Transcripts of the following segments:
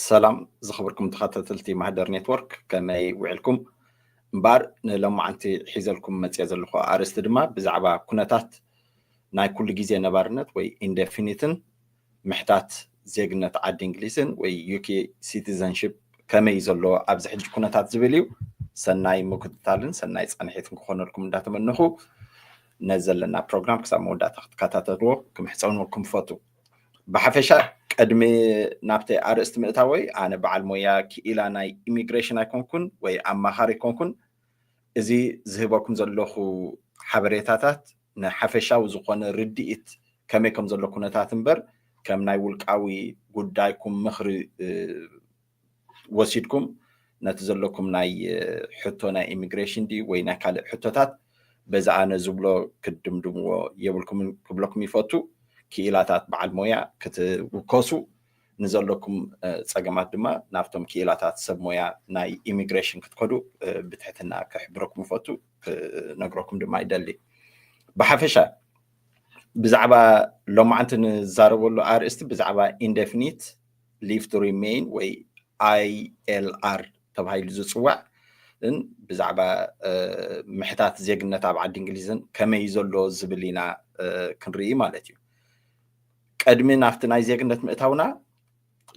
ሰላም ዝኸበርኩም ተኸታተልቲ ማህደር ኔትወርክ ከመይ ውዒልኩም እምበኣር ንሎማዓንቲ ሒዘልኩም መፅኦ ዘለኹ ኣርእስቲ ድማ ብዛዕባ ኩነታት ናይ ኩሉ ግዜ ነባርነት ወይ ኢንደፊኒትን ምሕታት ዜግነት ዓዲ እንግሊዝን ወይ UK citizenship ከመይ እዩ ዘሎ ኣብዚ ሕጂ ኩነታት ዝብል እዩ ሰናይ ምክትታልን ሰናይ ፃንሒትን ክኾነልኩም እንዳተመነኹ ነዚ ዘለና ፕሮግራም ክሳብ መወዳእታ ክትከታተልዎ ክምሕፀንኩም ፈቱ ብሓፈሻ ቅድሚ ናብቲ ኣርእስቲ ምእታወይ ኣነ በዓል ሞያ ክኢላ ናይ ኢሚግሬሽን ኣይኮንኩን ወይ ኣማኻሪ ኣይኮንኩን እዚ ዝህበኩም ዘለኹ ሓበሬታታት ንሓፈሻዊ ዝኾነ ርድኢት ከመይ ከም ዘሎ ኩነታት እምበር ከም ናይ ውልቃዊ ጉዳይኩም ምኽሪ ወሲድኩም ነቲ ዘለኩም ናይ ሕቶ ናይ ኢሚግሬሽን ድዩ ወይ ናይ ካልእ ሕቶታት በዚ ኣነ ዝብሎ ክትድምድምዎ የብልኩምን ክብለኩም ይፈቱ። ክኢላታት በዓል ሞያ ክትውከሱ ንዘለኩም ጸገማት ድማ ናብቶም ክኢላታት ሰብ ሞያ ናይ ኢሚግሬሽን ክትከዱ ብትሕትና ክሕብረኩም እፈቱ። ክነግረኩም ድማ ይደሊ ብሓፈሻ ብዛዕባ ሎማዓንቲ ንዛረበሉ ኣርእስቲ ብዛዕባ ኢንደፊኒት ሊቭ ቱ ሪሜይን ወይ ኣይኤልኣር ተባሂሉ ዝፅዋዕ ን ብዛዕባ ምሕታት ዜግነት ኣብ ዓዲ እንግሊዝን ከመይ ዘሎ ዝብል ኢና ክንርኢ ማለት እዩ ቀድሚ ናብቲ ናይ ዜግነት ምእታውና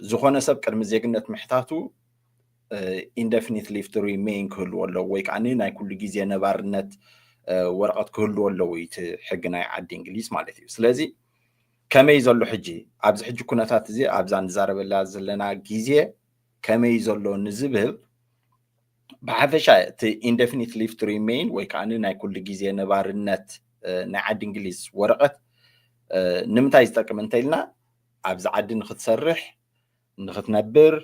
ዝኾነ ሰብ ቅድሚ ዜግነት ምሕታቱ ኢንደፊኒት ሊቭ ቱ ሪሜይን ክህልዎ ኣለዎ ወይ ከዓ ናይ ኩሉ ግዜ ነባርነት ወረቐት ክህልዎ ኣለዎ እዩ እቲ ሕጊ ናይ ዓዲ እንግሊዝ ማለት እዩ ስለዚ ከመይ ዘሎ ሕጂ ኣብዚ ሕጂ ኩነታት እዚ ኣብዛ ንዛረበላ ዘለና ግዜ ከመይ ዘሎ ንዝብል ብሓፈሻ እቲ ኢንደፊኒት ሊቭ ቱ ሪሜይን ወይ ከዓ ናይ ኩሉ ግዜ ነባርነት ናይ ዓዲ እንግሊዝ ወረቐት ንምንታይ ዝጠቅም እንተኢልና ኣብዚ ዓዲ ንክትሰርሕ ንክትነብር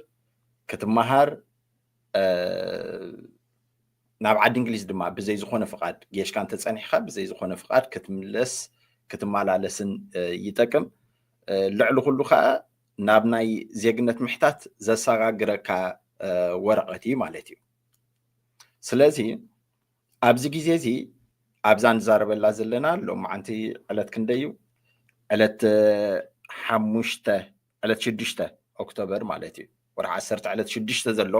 ክትመሃር ናብ ዓዲ እንግሊዝ ድማ ብዘይ ዝኾነ ፍቓድ ጌሽካ እንተፀኒሕካ ብዘይ ዝኾነ ፍቓድ ክትምለስ ክትመላለስን ይጠቅም ልዕሊ ኩሉ ከዓ ናብ ናይ ዜግነት ምሕታት ዘሰጋግረካ ወረቐት እዩ ማለት እዩ ስለዚ ኣብዚ ግዜ እዚ ኣብዛ ንዛረበላ ዘለና ሎማዓንቲ ዕለት ክንደይ እዩ ዕለት ሓሙሽተ ዕለት ሽዱሽተ ኦክቶበር ማለት እዩ ወርሒ ዓሰርተ ዕለት ሽዱሽተ ዘሎ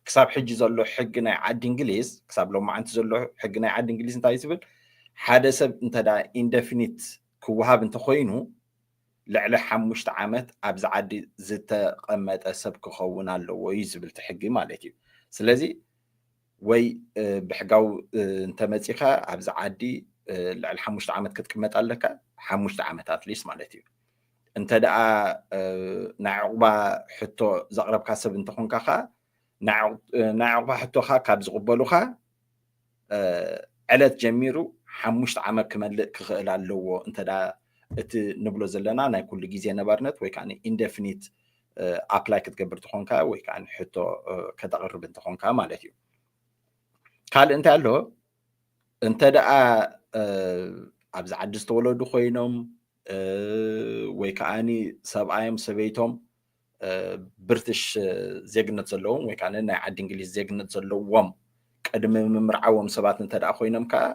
ክሳብ ሕጂ ዘሎ ሕጊ ናይ ዓዲ እንግሊዝ ክሳብ ሎማዓንቲ ዘሎ ሕጊ ናይ ዓዲ እንግሊዝ እንታይ ዝብል ሓደ ሰብ እንተ ኢንደፊኒት ክወሃብ እንተኮይኑ ልዕሊ ሓሙሽተ ዓመት ኣብዚ ዓዲ ዝተቐመጠ ሰብ ክኸውን ኣለዎ እዩ ዝብል እቲ ሕጊ ማለት እዩ። ስለዚ ወይ ብሕጋዊ እንተመፂኻ ኣብዚ ዓዲ ልዕሊ ሓሙሽተ ዓመት ክትቅመጥ ኣለካ ሓሙሽተ ዓመት ኣትሊስ ማለት እዩ እንተ ደኣ ናይ ዕቑባ ሕቶ ዘቕረብካ ሰብ እንተኾንካ ኸዓ ናይ ዕቑባ ሕቶኻ ካብ ዝቕበሉኻ ዕለት ጀሚሩ ሓሙሽተ ዓመት ክመልእ ክኽእል ኣለዎ እንተ እቲ ንብሎ ዘለና ናይ ኩሉ ግዜ ነባርነት ወይ ከዓ ኢንደፊኒት ኣፕላይ ክትገብር ተኾንካ ወይ ከዓ ሕቶ ከተቕርብ እንተኾንካ ማለት እዩ ካልእ እንታይ ኣሎ እንተ ደኣ ኣብዚ ዓዲ ዝተወለዱ ኮይኖም ወይ ከዓኒ ሰብኣዮም ሰበይቶም ብርትሽ ዜግነት ዘለዎም ወይ ከዓ ናይ ዓዲ እንግሊዝ ዜግነት ዘለዎም ቅድሚ ምምርዓዎም ሰባት እንተ ደኣ ኮይኖም ከዓ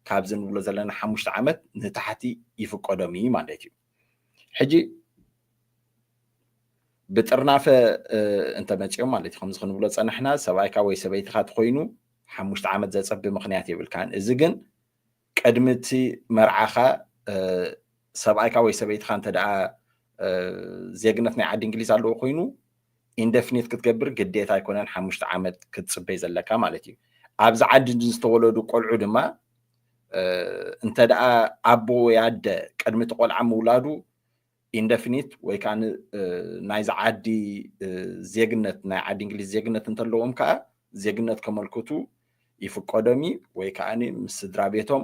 ካብዚ ንብሎ ዘለና ሓሙሽተ ዓመት ንታሕቲ ይፍቀዶም እዩ ማለት እዩ ሕጂ ብጥርናፈ እንተመፅኦም ማለት እዩ ከምዚ ክንብሎ ፀናሕና ሰብኣይካ ወይ ሰበይትካ ትኮይኑ ሓሙሽተ ዓመት ዘፀቢ ምክንያት የብልካን እዚ ግን ቅድሚ እቲ መርዓካ ሰብኣይካ ወይ ሰበይትካ እንተ ዜግነት ናይ ዓዲ እንግሊዝ ኣለዎ ኮይኑ ኢንደፍኒት ክትገብር ግዴታ ኣይኮነን ሓሙሽተ ዓመት ክትፅበይ ዘለካ ማለት እዩ ኣብዚ ዓዲ ዝተወለዱ ቆልዑ ድማ እንተ ደኣ ኣቦ ወይ ኣደ ቅድሚ እቲ ቆልዓ ምውላዱ ኢንደፊኒት ወይ ከዓ ናይዚ ዓዲ ዜግነት ናይ ዓዲ እንግሊዝ ዜግነት እንተለዎም ከዓ ዜግነት ከመልክቱ ይፍቀዶም እዩ ወይ ከዓ ምስ ስድራ ቤቶም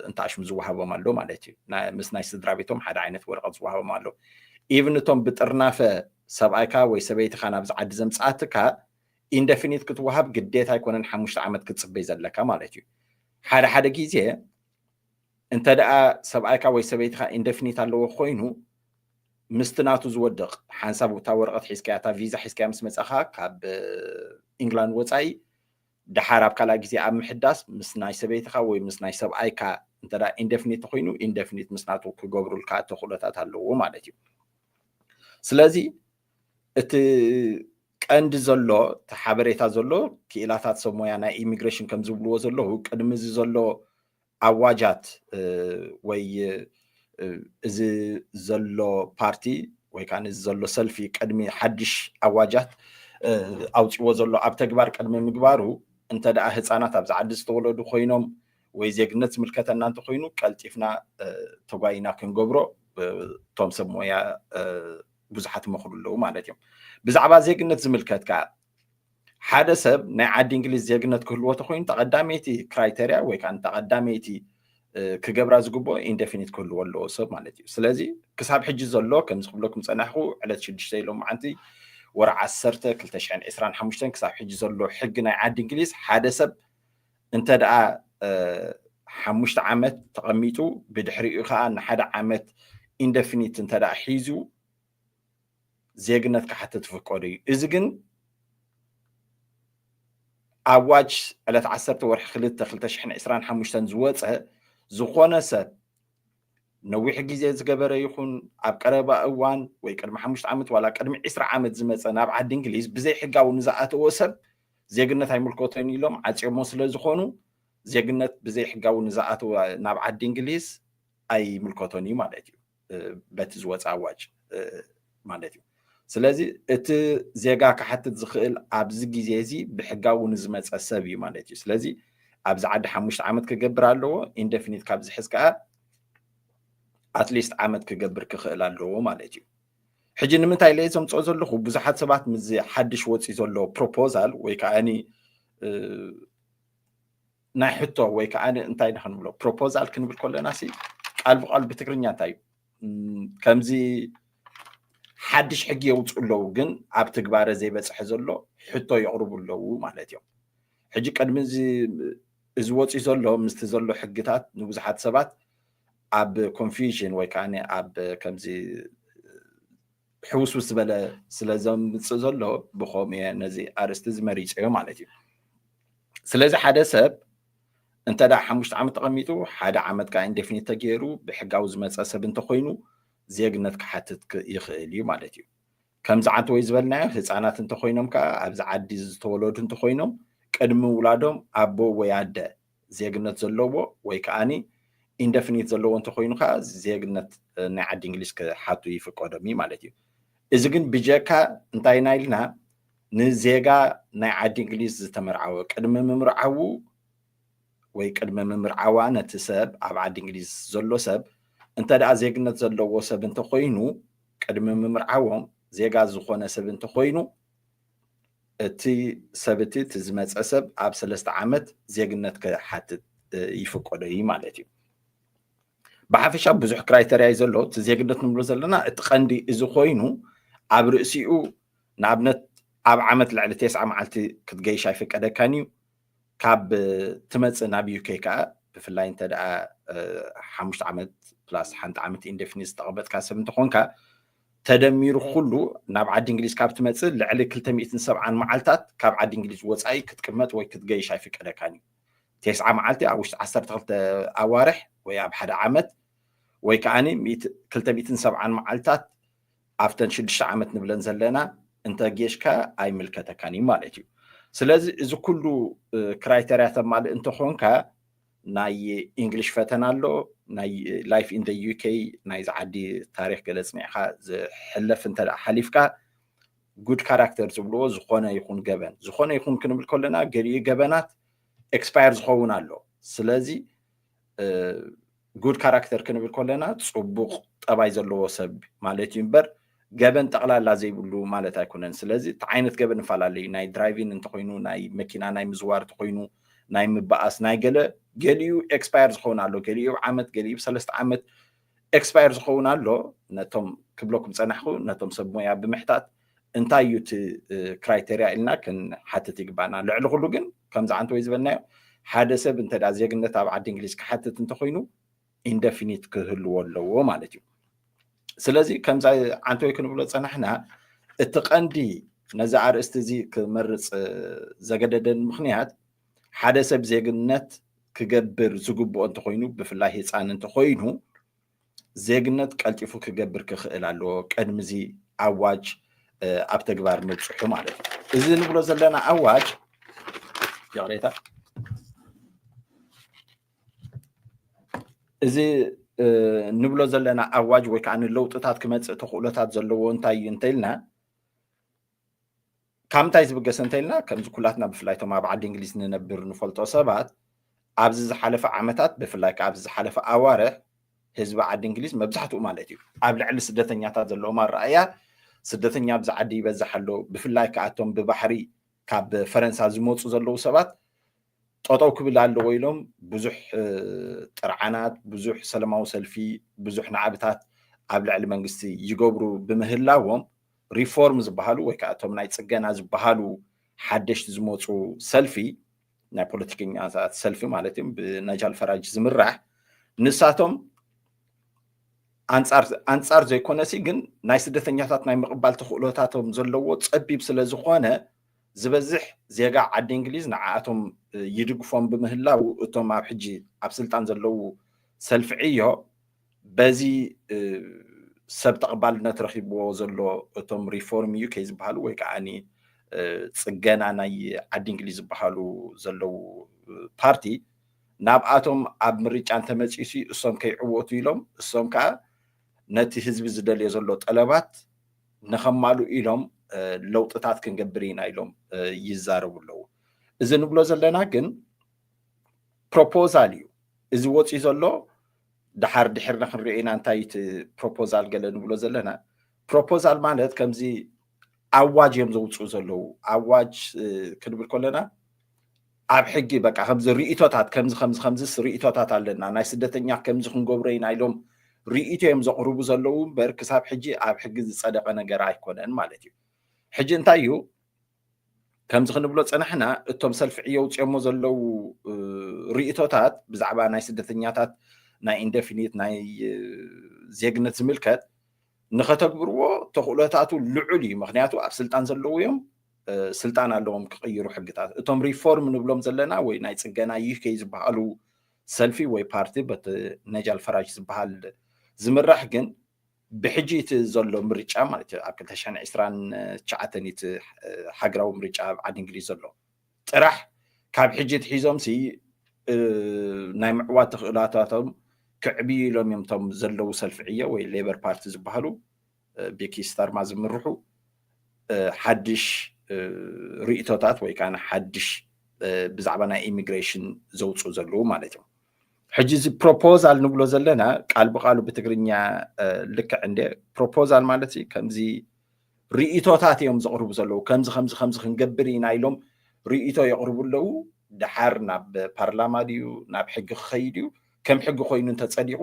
እንታሽም ዝወሃቦም ኣሎ ማለት እዩ ምስ ናይ ስድራ ቤቶም ሓደ ዓይነት ወረቐት ዝወሃቦም ኣሎ ኢቭን እቶም ብጥርናፈ ሰብኣይካ ወይ ሰበይትኻ ናብዚ ዓዲ ዘምፅኣትካ ኢንደፊኒት ክትወሃብ ግዴታ ኣይኮነን ሓሙሽተ ዓመት ክትጽበይ ዘለካ ማለት እዩ ሓደ ሓደ ግዜ እንተ ደኣ ሰብኣይካ ወይ ሰበይትኻ ኢንደፊኒት ኣለዎ ኮይኑ ምስቲ ናቱ ዝወድቕ ሓንሳብ እታ ወረቐት ሒዝካያ እታ ቪዛ ሒዝካያ ምስ መጻኻ ካብ ኢንግላንድ ወጻኢ ድሓር ኣብ ካልኣ ግዜ ኣብ ምሕዳስ ምስ ናይ ሰበይትኻ ወይ ምስ ናይ ሰብኣይካ እንተ ኢንደፍኒት ኮይኑ ኢንደፍኒት ምስ ናቱ ክገብሩልካ ተኽእሎታት ኣለዎ ማለት እዩ ስለዚ እቲ ቀንዲ ዘሎ እቲ ሓበሬታ ዘሎ ክኢላታት ሰብ ሞያ ናይ ኢሚግሬሽን ከም ዝብልዎ ዘለዉ ቅድሚ እዚ ዘሎ ኣዋጃት እ፣ ወይ እ፣ እዚ ዘሎ ፓርቲ ወይ ከዓ እዚ ዘሎ ሰልፊ ቅድሚ ሓድሽ ኣዋጃት እ፣ ኣውፅዎ ዘሎ ኣብ ተግባር ቅድሚ ምግባሩ እንተ ደኣ ህፃናት ኣብዚ ዓዲ ዝተወለዱ ኮይኖም ወይ ዜግነት ዝምልከተና እንተኮይኑ ቀልጢፍና እ፣ ተጓይና ክንገብሮ እ፣ እቶም ሰብ ሞያ እ፣ ብዙሓት ይመኽሩ ኣለዉ ማለት እዮም ብዛዕባ ዜግነት ዝምልከት ከዓ ሓደ ሰብ ናይ ዓዲ እንግሊዝ ዜግነት ክህልዎ ተኮይኑ ተቀዳመይቲ ክራይተርያ ወይ ከዓ ተቀዳመይቲ ክገብራ ዝግብኦ ኢንደፊኒት ክህልዎ ኣለዎ ሰብ ማለት እዩ ስለዚ ክሳብ ሕጂ ዘሎ ከምዚ ክብለኩም ፀናሕኩ ዕለት ሽዱሽተ ኢሎም መዓንቲ ወርዓ ዓሰርተ ክልተ ሽሕን ዕስራን ሓሙሽተን ክሳብ ሕጂ ዘሎ ሕጊ ናይ ዓዲ እንግሊዝ ሓደ ሰብ እንተ ደኣ ሓሙሽተ ዓመት ተቐሚጡ ብድሕሪኡ ከዓ ንሓደ ዓመት ኢንደፊኒት እንተ ደኣ ሒዙ ዜግነት ክሓትት ዝፍቀዶ እዩ እዚ ግን ኣዋጅ ዕለት ዓሰርተ ወርሒ ክልተ ክልተ ሽሕን ዕስራን ሓሙሽተን ዝወፀ ዝኾነ ሰብ ነዊሕ ግዜ ዝገበረ ይኹን ኣብ ቀረባ እዋን ወይ ቅድሚ ሓሙሽተ ዓመት ዋላ ቅድሚ ዕስራ ዓመት ዝመፀ ናብ ዓዲ እንግሊዝ ብዘይ ሕጋዊ ንዝኣተወ ሰብ ዜግነት ኣይምልከቶን ኢሎም ዓጽዮሞ ስለ ዝኾኑ ዜግነት ብዘይ ሕጋዊ ንዝኣተወ ናብ ዓዲ እንግሊዝ ኣይምልከቶን እዩ ማለት እዩ በቲ ዝወፀ ኣዋጅ ማለት እዩ ስለዚ እቲ ዜጋ ክሓትት ዝኽእል ኣብዚ ግዜ እዚ ብሕጋዊ ንዝመፀ ሰብ እዩ ማለት እዩ ስለዚ ኣብዚ ዓዲ ሓሙሽተ ዓመት ክገብር ኣለዎ ኢንደፊኒት ካብ ዝሕዝ ከዓ ኣትሊስት ዓመት ክገብር ክኽእል ኣለዎ ማለት እዩ ሕጂ ንምንታይ ለየ ዘምፅኦ ዘለኹ ብዙሓት ሰባት ምዚ ሓድሽ ወፂኡ ዘሎ ፕሮፖዛል ወይ ከዓ ናይ ሕቶ ወይ ከዓ እንታይ ንክንብሎ ፕሮፖዛል ክንብል ከለና ሲ ቃል ብቃሉ ብትግርኛ እንታይ እዩ ከምዚ ሓድሽ ሕጊ የውፅኡ ኣለዉ ግን ኣብ ትግባረ ዘይበፅሐ ዘሎ ሕቶ የቕርቡ ኣለዉ ማለት እዮም ሕጂ ቅድሚ እዚ ወፂኡ ዘሎ ምስቲ ዘሎ ሕግታት ንብዙሓት ሰባት ኣብ ኮንፊዥን ወይ ከኣ ኣብ ከምዚ ሕውስውስ ዝበለ ስለ ዘምጽእ ዘሎ ብኸምኡ እየ ነዚ ኣርእስቲ እዚ መሪጸዮ ማለት እዩ ስለዚ ሓደ ሰብ እንተ ደኣ ሓሙሽተ ዓመት ተቐሚጡ ሓደ ዓመት ከዓ ኢንዴፊኒት ተገይሩ ብሕጋዊ ዝመፀ ሰብ እንተኮይኑ ዜግነት ክሓትት ይኽእል እዩ ማለት እዩ ከምዚ ዓንተወይ ዝበልናዮ ህጻናት እንተኾይኖም ከኣ ኣብዚ ዓዲ ዝተወለዱ እንተኾይኖም ቅድሚ ምውላዶም ኣቦ ወይ ኣደ ዜግነት ዘለዎ ወይ ከኣ ኢንደፍኒት ዘለዎ እንተኾይኑ ከኣ ዜግነት ናይ ዓዲ እንግሊዝ ክሓቱ ይፍቀዶም እዩ ማለት እዩ እዚ ግን ብጀካ እንታይ ኢና ኢልና ንዜጋ ናይ ዓዲ እንግሊዝ ዝተመርዓወ ቅድሚ ምምርዓዉ ወይ ቅድሚ ምምርዓዋ ነቲ ሰብ ኣብ ዓዲ እንግሊዝ ዘሎ ሰብ እንተ ደኣ ዜግነት ዘለዎ ሰብ እንተኮይኑ ቅድሚ ምምርዓዎም ዜጋ ዝኾነ ሰብ እንተኾይኑ እቲ ሰብ እቲ እቲ ዝመፀ ሰብ ኣብ ሰለስተ ዓመት ዜግነት ክሓትት ይፍቀዶ እዩ ማለት እዩ። ብሓፈሻ ብዙሕ ክራይተርያ እዩ ዘሎ እቲ ዜግነት ንብሎ ዘለና እቲ ቀንዲ እዚ ኮይኑ ኣብ ርእሲኡ ንኣብነት ኣብ ዓመት ልዕሊ ቴስዓ መዓልቲ ክትገይሽ ኣይፍቀደካን እዩ ካብ ትመፅእ ናብ ዩኬ ከዓ ብፍላይ እንተ ደኣ ሓሙሽተ ዓመት ፕላስ ሓንቲ ዓመት ኢንደፊኒት ዝተቐመጥካ ሰብ እንተኾንካ ተደሚሩ ኩሉ ናብ ዓዲ እንግሊዝ ካብ ትመፅእ ልዕሊ 270 መዓልታት ካብ ዓዲ እንግሊዝ ወፃኢ ክትቅመጥ ወይ ክትገይሽ ኣይፍቀደካን እዩ ቴስዓ መዓልቲ ኣብ ውሽጢ 12 ኣዋርሕ ወይ ኣብ ሓደ ዓመት ወይ ከዓኒ 270 መዓልታት ኣብተን ሽዱሽተ ዓመት ንብለን ዘለና እንተ ጌሽካ ኣይምልከተካን እዩ ማለት እዩ ስለዚ እዚ ኩሉ ክራይተርያ ተማልእ እንተኾንካ ናይ ኢንግሊሽ ፈተና ኣሎ ናይ ላይፍ ኢን ዩኬ ናይዚ ዓዲ ታሪክ ገለ ፅኒዕካ ዝሕለፍ እንተ ሓሊፍካ ጉድ ካራክተር ዝብልዎ ዝኾነ ይኹን ገበን ዝኾነ ይኹን ክንብል ከለና ገሊኡ ገበናት ኤክስፓየር ዝኸውን ኣሎ ስለዚ ጉድ ካራክተር ክንብል ከለና ፅቡቕ ጠባይ ዘለዎ ሰብ ማለት እዩ እምበር ገበን ጠቕላላ ዘይብሉ ማለት ኣይኮነን። ስለዚ እቲ ዓይነት ገበን ንፈላለዩ ናይ ድራይቪን እንተኮይኑ ናይ መኪና ናይ ምዝዋር እንተኮይኑ ናይ ምበኣስ ናይ ገለ ገሊኡ ኤክስፓየር ዝኸውን ኣሎ ገሊኡ ዓመት ገሊኡ ሰለስተ ዓመት ኤክስፓየር ዝኸውን ኣሎ ነቶም ክብለኩም ፀናሕኩ ነቶም ሰብ ሞያ ብምሕታት እንታይ እዩ እቲ ክራይቴሪያ ኢልና ክንሓትት ይግባና ልዕሊ ኩሉ ግን ከምዚ ዓንቲ ወይ ዝበልናዮ ሓደ ሰብ እንተ ዜግነት ኣብ ዓዲ እንግሊዝ ክሓትት እንተኮይኑ ኢንደፊኒት ክህልዎ ኣለዎ ማለት እዩ ስለዚ ከምዚ ዓንቲ ወይ ክንብሎ ፀናሕና እቲ ቀንዲ ነዚ ኣርእስቲ እዚ ክመርፅ ዘገደደን ምክንያት ሓደ ሰብ ዜግነት ክገብር ዝግብኦ እንተኾይኑ ብፍላይ ህፃን እንተኾይኑ ዜግነት ቀልጢፉ ክገብር ክኽእል ኣለዎ ቅድሚ እዚ ኣዋጅ ኣብ ተግባር ምብፅሑ ማለት እዩ እዚ ንብሎ ዘለና ኣዋጅ ይቕሬታ እዚ ንብሎ ዘለና ኣዋጅ ወይ ከዓ ንለውጥታት ክመፅእ ተኽእሎታት ዘለዎ እንታይ እዩ እንተኢልና ካብ ምንታይ ዝብገሰ እንተኢልና ከምዚ ኩላትና ብፍላይ እቶም ኣብ ዓዲ እንግሊዝ ንነብር ንፈልጦ ሰባት ኣብዚ ዝሓለፈ ዓመታት ብፍላይ ከዓ ኣብዚ ዝሓለፈ ኣዋርሕ ህዝቢ ዓዲ እንግሊዝ መብዛሕትኡ ማለት እዩ ኣብ ልዕሊ ስደተኛታት ዘለዎም ኣረኣእያ ስደተኛ ኣብዚ ዓዲ ይበዝሕ ኣሎ ብፍላይ ከዓ እቶም ብባሕሪ ካብ ፈረንሳ ዝመፁ ዘለዉ ሰባት ጠጠው ክብል ኣለዎ ኢሎም ብዙሕ ጥርዓናት ብዙሕ ሰለማዊ ሰልፊ ብዙሕ ናዕብታት ኣብ ልዕሊ መንግስቲ ይገብሩ ብምህላዎም ሪፎርም ዝበሃሉ ወይ ከዓ እቶም ናይ ፅገና ዝበሃሉ ሓደሽቲ ዝመፁ ሰልፊ ናይ ፖለቲከኛታት ሰልፊ ማለት እዩ ብናጃል ፈራጅ ዝምራሕ ንሳቶም ኣንፃር ዘይኮነሲ ግን ናይ ስደተኛታት ናይ ምቕባል ተኽእሎታቶም ዘለዎ ፀቢብ ስለ ዝኾነ ዝበዝሕ ዜጋ ዓዲ እንግሊዝ ንዓኣቶም ይድግፎም ብምህላው እቶም ኣብ ሕጂ ኣብ ስልጣን ዘለዉ ሰልፊ ዕዮ በዚ ሰብ ተቐባልነት ረኺብዎ ዘሎ እቶም ሪፎርም ዩኬ ዝበሃሉ ወይ ከዓ ፅገና ናይ ዓዲ እንግሊዝ ዝበሃሉ ዘለዉ ፓርቲ ናብኣቶም ኣብ ምርጫ እንተመፅኡ ሲ እሶም ከይዕወቱ ኢሎም እሶም ከዓ ነቲ ህዝቢ ዝደልዮ ዘሎ ጠለባት ንኸማልኡ ኢሎም ለውጥታት ክንገብር ኢና ኢሎም ይዛረቡ ኣለዉ እዚ ንብሎ ዘለና ግን ፕሮፖዛል እዩ እዚ ወፅዩ ዘሎ ደሓር ድሒርና ክንሪኦ ኢና እንታይ እዩ እቲ ፕሮፖዛል ገለ ንብሎ ዘለና ፕሮፖዛል ማለት ከምዚ ኣዋጅ እዮም ዘውፅኡ ዘለዉ ኣዋጅ ክንብል ከለና ኣብ ሕጊ በቃ ከምዚ ርእቶታት ከምዚ ከምዚ ከምዚስ ርእቶታት ኣለና ናይ ስደተኛ ከምዚ ክንገብሮ ኢና ኢሎም ርእቶ እዮም ዘቕርቡ ዘለዉ እምበር ክሳብ ሕጂ ኣብ ሕጊ ዝፀደቐ ነገር ኣይኮነን ማለት እዩ ሕጂ እንታይ እዩ ከምዚ ክንብሎ ፀናሕና እቶም ሰልፊ ዕዮ ውፅኦሞ ዘለው ርእቶታት ብዛዕባ ናይ ስደተኛታት ናይ ኢንደፊኒት ናይ ዜግነት ዝምልከት ንኸተግብርዎ ተኽእሎታቱ ልዑል እዩ ምክንያቱ ኣብ ስልጣን ዘለዉ እዮም ስልጣን ኣለዎም ክቕይሩ ሕግታት እቶም ሪፎርም ንብሎም ዘለና ወይ ናይ ፅገና ይህ ከይ ዝበሃሉ ሰልፊ ወይ ፓርቲ በት ነጃል ፈራጅ ዝበሃል ዝምራሕ ግን ብሕጂ እቲ ዘሎ ምርጫ ማለት እዩ ኣብ ክልተ ሽሕን ዕስራን ትሽዓተን እዩ እቲ ሃገራዊ ምርጫ ኣብ ዓዲ እንግሊዝ ዘሎ ጥራሕ ካብ ሕጂ ኣትሒዞም ሲ ናይ ምዕዋት ተኽእሎታቶም ክዕብዩ ኢሎም እዮም እቶም ዘለዉ ሰልፊ ዕዮ ወይ ሌበር ፓርቲ ዝበሃሉ ቤኪ ስታርማ ዝምርሑ ሓድሽ ርእቶታት ወይ ከዓ ሓድሽ ብዛዕባ ናይ ኢሚግሬሽን ዘውፅኡ ዘለዉ ማለት እዮም ሕጂ እዚ ፕሮፖዛል ንብሎ ዘለና ቃል ብቃሉ ብትግርኛ ልክዕ እንደ ፕሮፖዛል ማለት ከምዚ ርእቶታት እዮም ዘቕርቡ ዘለዉ ከምዚ ከምዚ ከምዚ ክንገብር ኢና ኢሎም ርእቶ የቕርቡ ኣለዉ ድሓር ናብ ፓርላማ ድዩ ናብ ሕጊ ክኸይድ እዩ ከም ሕጊ ኮይኑ እንተፀዲቑ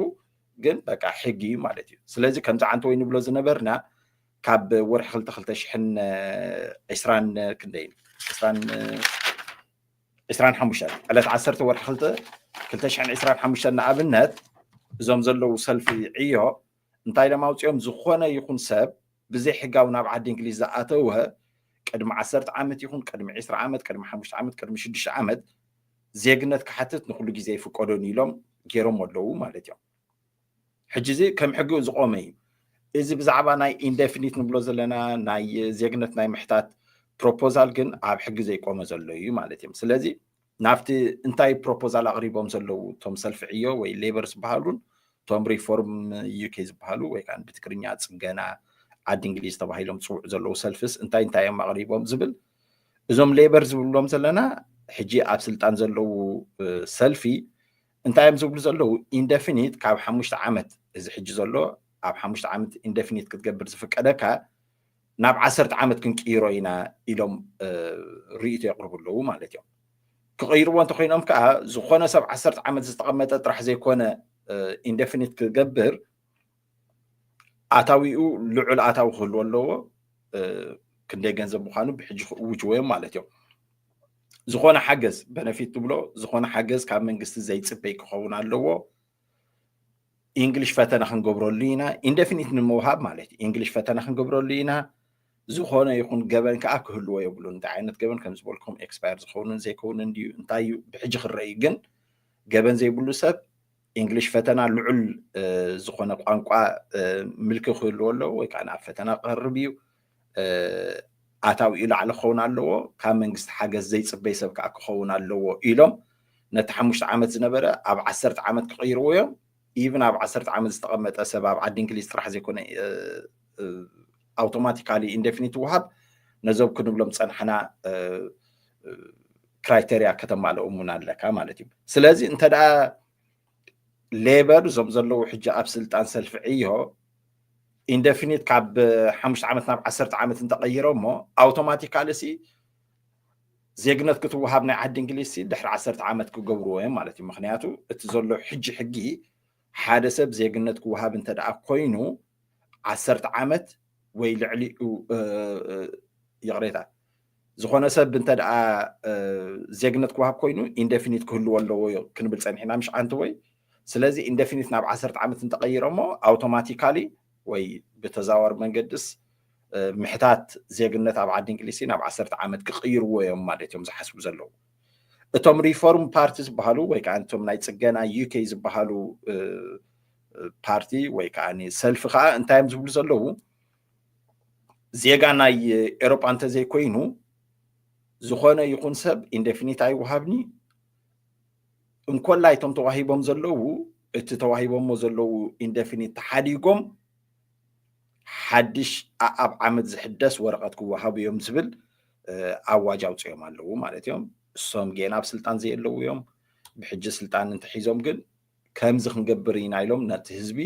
ግን በቃ ሕጊ እዩ ማለት እዩ ስለዚ ከምዚ ዓንተ ወይ ንብሎ ዝነበርና ካብ ወርሒ ክልተ ክልተ ሽሕን ዕስራን ክንደይን ዕስራን ዕስራን ሓሙሽተን ዕለት ዓሰርተ ወርሒ ክልተ ክልተ ሽሕን ዕስራን ሓሙሽተን ንኣብነት እዞም ዘለዉ ሰልፊ ዕዮ እንታይ ኢሎም ኣውፂኦም ዝኾነ ይኹን ሰብ ብዘይ ሕጋዊ ናብ ዓዲ እንግሊዝ ዝኣተወ ቅድሚ ዓሰርተ ዓመት ይኹን ቅድሚ ዕስራ ዓመት ቅድሚ ሓሙሽተ ዓመት ቅድሚ ሽዱሽተ ዓመት ዜግነት ክሓትት ንኩሉ ግዜ ይፍቀዶን ኢሎም ገይሮም ኣለዉ ማለት እዮም ሕጂ እዚ ከም ሕጊ ዝቆመ እዩ እዚ ብዛዕባ ናይ ኢንደፊኒት ንብሎ ዘለና ናይ ዜግነት ናይ ምሕታት ፕሮፖዛል ግን ኣብ ሕጊ ዘይቆመ ዘሎ እዩ ማለት እዮም ስለዚ ናብቲ እንታይ ፕሮፖዛል ኣቕሪቦም ዘለዉ እቶም ሰልፊ ዕዮ ወይ ሌበር ዝበሃሉን እቶም ሪፎርም ዩኬ ዝበሃሉ ወይ ከዓ ብትግርኛ ፅገና ዓዲ እንግሊዝ ተባሂሎም ዝፅውዑ ዘለዉ ሰልፍስ እንታይ እንታይ እዮም ኣቕሪቦም ዝብል እዞም ሌበር ዝብሎም ዘለና ሕጂ ኣብ ስልጣን ዘለዉ ሰልፊ እንታይ እዮም ዝብሉ ዘለዉ ኢንደፊኒት ካብ ሓሙሽተ ዓመት እዚ ሕጂ ዘሎ ኣብ ሓሙሽተ ዓመት ኢንደፊኒት ክትገብር ዝፍቀደካ ናብ ዓሰርተ ዓመት ክንቅይሮ ኢና ኢሎም ርእቶ የቕርቡ ኣለዉ ማለት እዮም ክቕይርዎ እንተኮይኖም ከዓ ዝኾነ ሰብ ዓሰርተ ዓመት ዝተቐመጠ ጥራሕ ዘይኮነ ኢንደፊኒት ክገብር ኣታዊኡ ልዑል ኣታዊ ክህልዎ ኣለዎ ክንደይ ገንዘብ ምዃኑ ብሕጂ ክእውጅዎ እዮም ማለት እዮም ዝኾነ ሓገዝ በነፊት ትብሎ ዝኾነ ሓገዝ ካብ መንግስቲ ዘይፅበይ ክኸውን ኣለዎ ኢንግሊሽ ፈተና ክንገብረሉ ኢና ኢንደፊኒት ንምውሃብ ማለት እዩ ኢንግሊሽ ፈተና ክንገብረሉ ኢና ዝኾነ ይኹን ገበን ከዓ ክህልዎ የብሉ እንታይ ዓይነት ገበን ከም ዝበልኩም ኤክስፓየር ዝኸውንን ዘይከውንን ድዩ እንታይ እዩ ብሕጂ ክረእዩ ግን ገበን ዘይብሉ ሰብ ኢንግሊሽ ፈተና ልዑል ዝኾነ ቋንቋ ምልኪ ክህልዎ ኣለዎ ወይ ከዓ ናብ ፈተና ክቐርብ እዩ ኣታዊኡ ላዕሊ ክኸውን ኣለዎ ካብ መንግስቲ ሓገዝ ዘይፅበይ ሰብ ከዓ ክኸውን ኣለዎ ኢሎም ነቲ ሓሙሽተ ዓመት ዝነበረ ኣብ ዓሰርተ ዓመት ክቕይርዎ እዮም ኢቭን ኣብ ዓሰርተ ዓመት ዝተቐመጠ ሰብ ኣብ ዓዲ እንግሊዝ ጥራሕ ዘይኮነ ኣውቶማቲካሊ ኢንደፊኒት ይወሃብ ነዞም ክንብሎም ዝፀናሕና ክራይተሪያ ከተማልኦ እውን ኣለካ ማለት እዩ ስለዚ እንተ ሌበር እዞም ዘለዉ ሕጂ ኣብ ስልጣን ሰልፊ ዕዮ ኢንደፊኒት ካብ ሓሙሽተ ዓመት ናብ ዓሰርተ ዓመት እንተቀይሮ እሞ ኣውቶማቲካሊ ሲ ዜግነት ክትወሃብ ናይ ዓዲ እንግሊዝ ሲ ድሕሪ ዓሰርተ ዓመት ክገብርዎ እዮም ማለት እዩ ምክንያቱ እቲ ዘሎ ሕጂ ሕጊ ሓደ ሰብ ዜግነት ክወሃብ እንተደኣ ኮይኑ ዓሰርተ ዓመት ወይ ልዕሊኡ ይቕሬታ ዝኾነ ሰብ እንተደኣ ዜግነት ክወሃብ ኮይኑ ኢንደፊኒት ክህልዎ ኣለዎ ክንብል ፀኒሕና ምሽ ሓንቲ ወይ ስለዚ ኢንደፊኒት ናብ ዓሰርተ ዓመት እንተቐይረሞ ኣውቶማቲካሊ ወይ ብተዛዋሪ መንገድስ ምሕታት ዜግነት ኣብ ዓዲ እንግሊዝሲ ናብ ዓሰርተ ዓመት ክቕይርዎ እዮም ማለት እዮም ዝሓስቡ ዘለዉ እቶም ሪፎርም ፓርቲ ዝበሃሉ ወይ ከዓ እቶም ናይ ፅገና ዩኬይ ዝበሃሉ ፓርቲ ወይ ከዓ ሰልፊ ከዓ እንታይ እዮም ዝብሉ ዘለዉ ዜጋ ናይ ኤሮጳ እንተዘይኮይኑ ዝኾነ ይኹን ሰብ ኢንደፊኒት ኣይወሃብኒ እንኮላይ እቶም ተዋሂቦም ዘለዉ እቲ ተዋሂቦሞ ዘለዉ ኢንደፊኒት ተሓዲጎም ሓድሽ ኣኣብ ዓመት ዝሕደስ ወረቐት ክወሃቡ እዮም ዝብል ኣዋጅ ኣውፅኦም ኣለዉ ማለት እዮም እሶም ጌና ኣብ ስልጣን ዘየለዉ እዮም ብሕጂ ስልጣን እንተሒዞም ግን ከምዚ ክንገብር ኢና ኢሎም ነቲ ህዝቢ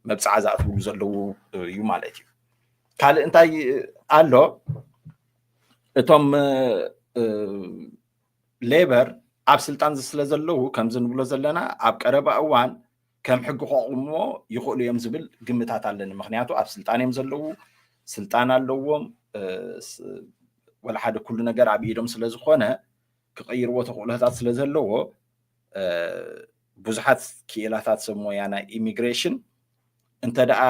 መብፅዓ ዝኣትውሉ ዘለዉ እዩ ማለት እዩ ካልእ እንታይ ኣሎ እቶም ሌበር ኣብ ስልጣን ስለ ዘለዉ ከምዚ ንብሎ ዘለና ኣብ ቀረባ እዋን ከም ሕጊ ከቑምዎ ይኽእሉ እዮም ዝብል ግምታት ኣለኒ ምክንያቱ ኣብ ስልጣን እዮም ዘለዉ ስልጣን ኣለዎም ወላ ሓደ ኩሉ ነገር ኣብ ኢዶም ስለ ዝኾነ ክቐይርዎ ተኽእሎታት ስለ ዘለዎ ብዙሓት ክኢላታት ሰብ ሞያ ናይ ኢሚግሬሽን እንተ ደኣ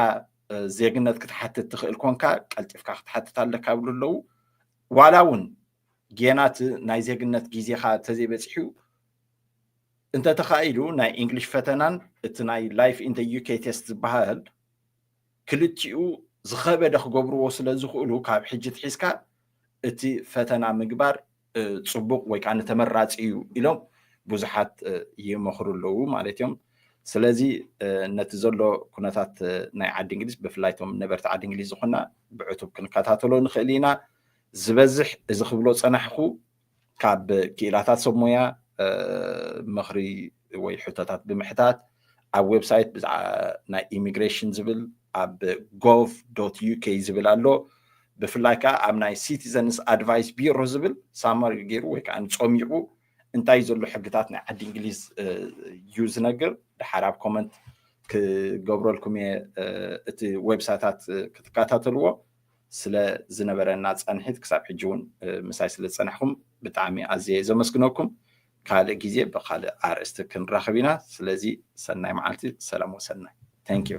ዜግነት ክትሓትት ትኽእል ኮንካ ቀልጢፍካ ክትሓትት ኣለካ ይብሉ ኣለዉ ዋላ እውን ጌና እቲ ናይ ዜግነት ግዜኻ እንተዘይበፂሑ እንተተኻኢሉ ናይ እንግሊሽ ፈተናን እቲ ናይ ላይፍ ኢን ዩኬ ቴስት ዝበሃል ክልቲኡ ዝኸበደ ክገብርዎ ስለ ዝኽእሉ ካብ ሕጂ ትሒዝካ እቲ ፈተና ምግባር ፅቡቕ ወይ ከዓ ንተመራፂ እዩ ኢሎም ብዙሓት ይመኽሩ ኣለዉ ማለት እዮም ስለዚ ነቲ ዘሎ ኩነታት ናይ ዓዲ እንግሊዝ ብፍላይ እቶም ነበርቲ ዓዲ እንግሊዝ ዝኾና ብዕቱብ ክንከታተሎ ንኽእል ኢና ዝበዝሕ እዚ ክብሎ ዝጸናሕኩ ካብ ክኢላታት ሰብ ሞያ ምኽሪ ወይ ሕቶታት ብምሕታት ኣብ ዌብሳይት ብዛዕባ ናይ ኢሚግሬሽን ዝብል ኣብ ጎቭ ዶት ዩኬ ዝብል ኣሎ ብፍላይ ከዓ ኣብ ናይ ሲቲዘንስ ኣድቫይስ ቢሮ ዝብል ሳማሪ ገይሩ ወይ ከዓ ጸሚቑ እንታይ ዘሎ ሕግታት ናይ ዓዲ እንግሊዝ እዩ ዝነግር ድሓር ኣብ ኮመንት ክገብረልኩም እየ እቲ ዌብሳይታት ክትከታተልዎ ስለ ዝነበረና ፃንሒት ክሳብ ሕጂ እውን ምሳይ ስለ ዝፀናሕኩም ብጣዕሚ ኣዝየ እየ ዘመስግነኩም። ካልእ ግዜ ብካልእ ኣርእስቲ ክንራኸብ ኢና። ስለዚ ሰናይ መዓልቲ፣ ሰላም ወሰናይ። Thank you።